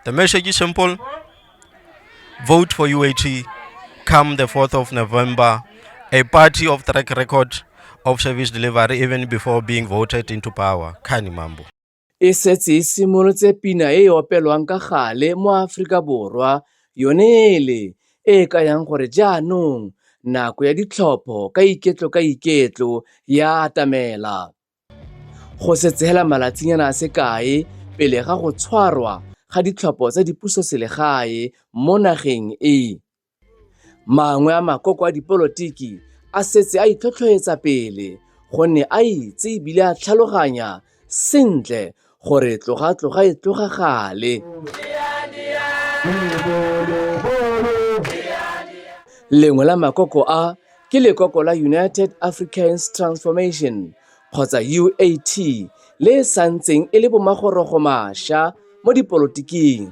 The message is simple vote for UAT come the 4th of November, a party of track record of service delivery even before being voted into power. Kani Mambo. e setse e simolotse pina e e opelwang ka gale mo Aforika Borwa yone ele e e kayang gore jaanong nako ya ditlhopho ka iketlo ka iketlo ya atamela Go setse hela malatsinyana a se kae pele ga go tshwarwa ga ditlhopho tsa dipusoselegae mo nageng e, mangwe a makoko a dipolotiki a setse a itlhotlhoetsa pele gonne a itse e bile a tlhaloganya sentle gore tloga tloga e tloga gale lengwe la makoko a ke lekoko la united africans transformation kgotsa uat le e santseng e le bomagorogo masha mo dipolotiking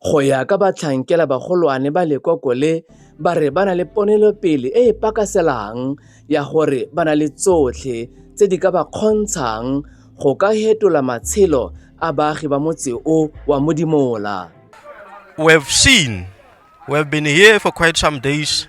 Go ya ka batlhankela bagolwane ba lekoko le, ba re ba na le ponelopele e e pakaselang ya gore ba na le tsotlhe tse di ka ba kgontshang go ka hetola matshelo a baagi ba motse o wa Modimola. We have seen, we have been here for quite some days.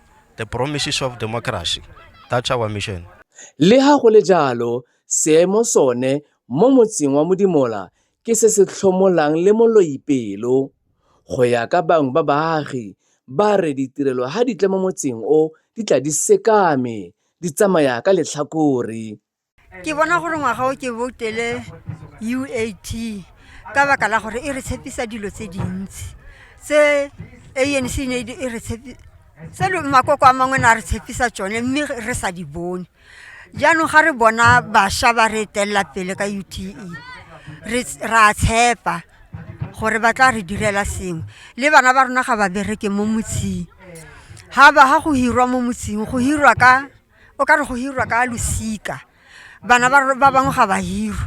The Promises of Democracy, That's Our Mission. Le ha go le jalo, seemo sone mo motseng wa Modimola ke se se tlhomolang le moloipelo. Go ya ka bangwe ba baagi, ba re ditirelo ha di tla mo motseng o di tla di sekame, di tsamaya ka letlhakore. ke bona gore ngwaga o ke boutele uat ka baka la gore e re tshepisa dilo tse dintsi tse anc e ne e re tse makoko a mangwe ne a re tshepisa tsone mme re sa di bone jaanong ga re bona bašwa ba re etelela pele ka ute ra tshepa gore ba tla re direla sengwe le bana ba rona ga ba bereke mo motshing ga ba ga go hirwa mo motshing go hirwa ka o ka re go hirwa ka losika bana ba ba bangwe ga ba hirwe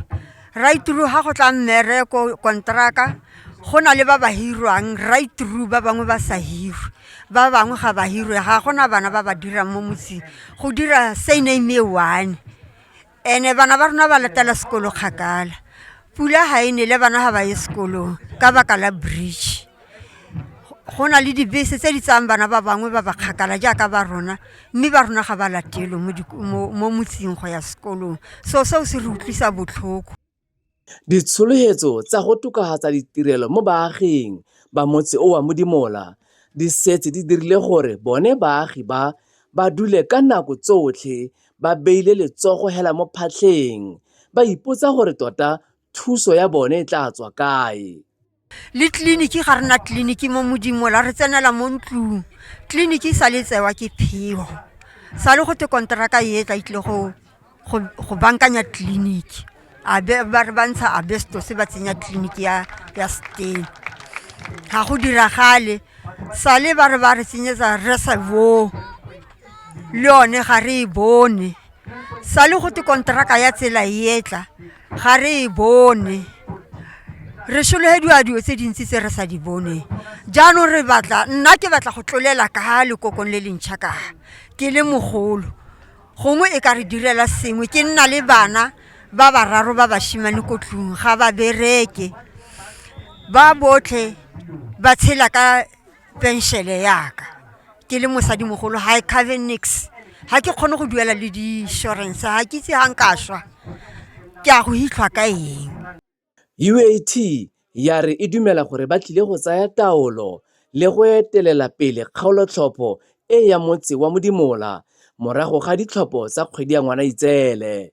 raituru ga go tla mmereko kontraka go na le ba ba hirwang raituru ba bangwe ba sa hirwe ba bangwe ga ba hirwe ga gona bana ba ba dirang mo motseng go dira sane me one ene bana ba rona ba latela sekolo kgakala pula ga e nele bana ga ba ye sekolong ka baka la bridge go na le dibese tse di tsayang bana ba bangwe ba ba kgakala jaaka ba rona mme ba rona ga ba latelwe mo motseng go ya sekolong so seo se re utlwisa botlhoko Ditshologelo tsa go tokafatsa ditirelo mo baaging ba motse o wa Modimola di setse di dirile gore bone baagi ba ba dule ka nako tsotlhe ba beile letsogo hela mo phatlheng, ba ipotsa gore tota thuso ya bone e tla tswa kae. le tleliniki ga rena tleliniki mo modimo la re tsenela mo ntlong tleliniki sa le tsewa ke phego sa le go te konteraka e tla itle go go bankanya tleliniki abe ba re bantsha abesto se ba tsenya tleliniki ya ya stay ga go diragale sa le ba re ba re tsenyetsa reservoir le yone ga re e bone sa le go te konteraka ya tsela e etla ga re e bone re sologediwa dilo tse dintsi tse re sa di boneng jaanong re batla nna ke batla go tlolela ka lekokong le lentšha ka ke le mogolo gongwe e ka re direla sengwe ke nna le bana ba bararo ba bashimane ko tlung ga ba bereke ba botlhe ba tshela ka penšele yaka ke le mosadimogolo ga e cover nix ga ke kgone go duela le di-insurance ga ke itse ga nka swa ke a go hitlhwa ka eng UAT ya re e dumela gore ba tlile go tsaya taolo le go etelela pele kgaolotlhopho e ya motse wa Modimola morago ga ditlhopho tsa kgwedi ya Ngwanaitseele.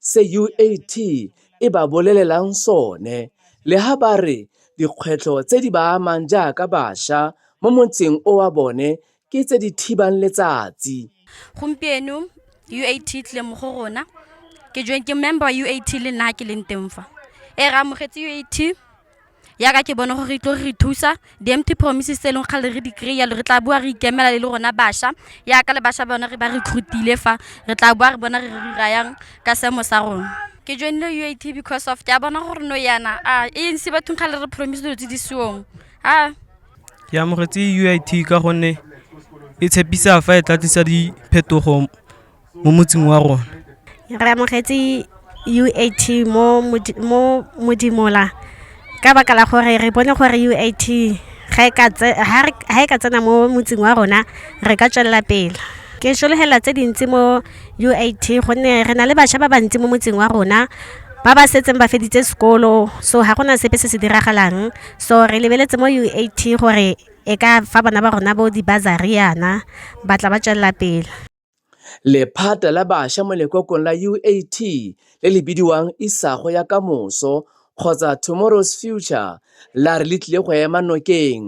se UAT e ba bolelelang sone, le ha ba re dikgwetlho tse di ba amang jaaka basha mo motseng o wa bone ke tse di thibang letsatsi. Gompieno UAT e tlile mo go rona, ke member wa UAT le nna ha ke leng teng fa. Ee, re amogetse UAT. Yaka ke bone gore e tlo re thusa di-empty promises tse e leng kgale re di kry-a re tla boa re ikemela le le rona bašwa yaka le bašwa bone re ba re khutile fa re tla boa re bona re re rayang ka seemo sa rona ke joinile u a t because of ke a bona gore no yana a e ntse bathong ga le re promise dilo tse di seong a ke amogetse u a t ka gonne e tshepisa fa e tla tlisa diphetogo mo motsing wa rona re amogetse uat mo modimola ka baka la gore re bone gore uat ga e ka tsena mo motsing wa rona re ka tswelela pele ke solegela tse dintsi mo uat gonne re na le bašwa ba bantsi mo motsing wa rona ba ba setseng ba feditse sekolo so ga gona sepe se se diragalang so re lebeletse mo UAT gore e ka fa bana ba rona bo di-bazariana ba tla ba tswelela pele Lephata la bašwa mo lekokong la UAT le le bidiwang Isago ya Kamoso kgotsa Tomorrow's Future la re le tlile go ema nokeng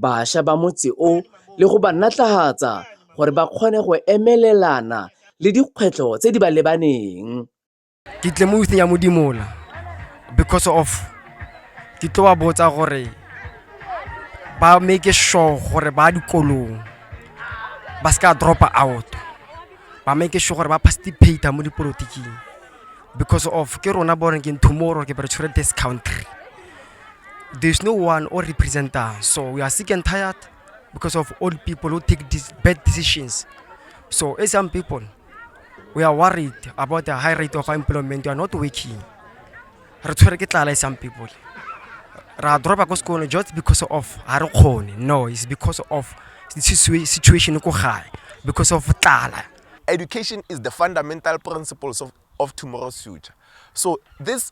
bašwa ba motse o le go ba natlahatsa gore ba kgone go emelelana le dikgwetlho tse di ba lebaneng. ke tle mo youthing ya modimola because of ke tlo ba botsa gore ba make sure gore ba dikolong ba se ka dropa out ba make sure gore ba participate mo dipolotiking because of ke rona bo renking tomorrow ke bere tshwere this country there's no one or representer so we are sick and tired because of old people who take these bad decisions so as young people we are worried about the high rate of employment you are not working re tshwere ke tlala e some people ra dropa ko sekolo just because of ga re kgone no is because of situation ko gae because of tlala education is the fundamental principles of, of tomorrow's future so this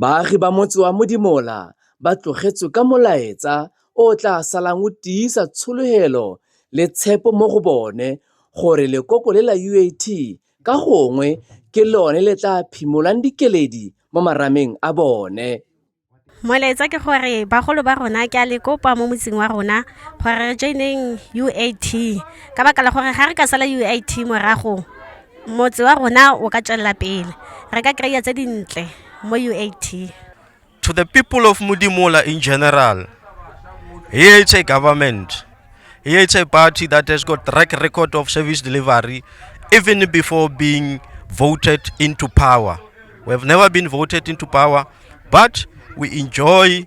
Baagi ba motse wa Modimola ba tlogetswe ka molaetsa o o tla salang o tiisa tshologelo le tshepo mo go bone gore lekoko le la UAT ka gongwe ke lone le tla phimolang dikeledi mo marameng a bone. Molaetsa ke gore bagolo ba rona ke a le kopa mo motseng wa rona gore re joineng UAT ka baka la gore ga re ka sala UAT morago, motse wa rona o ka tswelela pele re ka kry-a tse dintle mo uat to the people of modimola in general here it's a government here it's a party that has got track record of service delivery even before being voted into power we have never been voted into power but we enjoy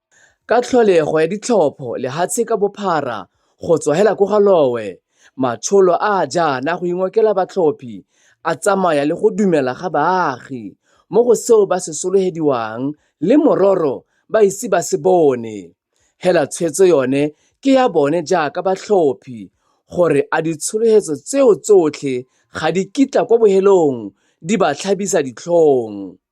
Ka tlholego ya ditlhopho lehatshe ka bophara go tswa hela ko Galowe, matsholo a a jaana go ingokela batlhophi a tsamaya le go dumela ga baagi mo go seo ba se solohediwang le mororo ba ise ba se bone, hela tshwetso yone ke ya bone jaaka batlhophi gore a ditshologelo tseo tsotlhe ga di kitla kwa bohelong di ba tlhabisa ditlhong.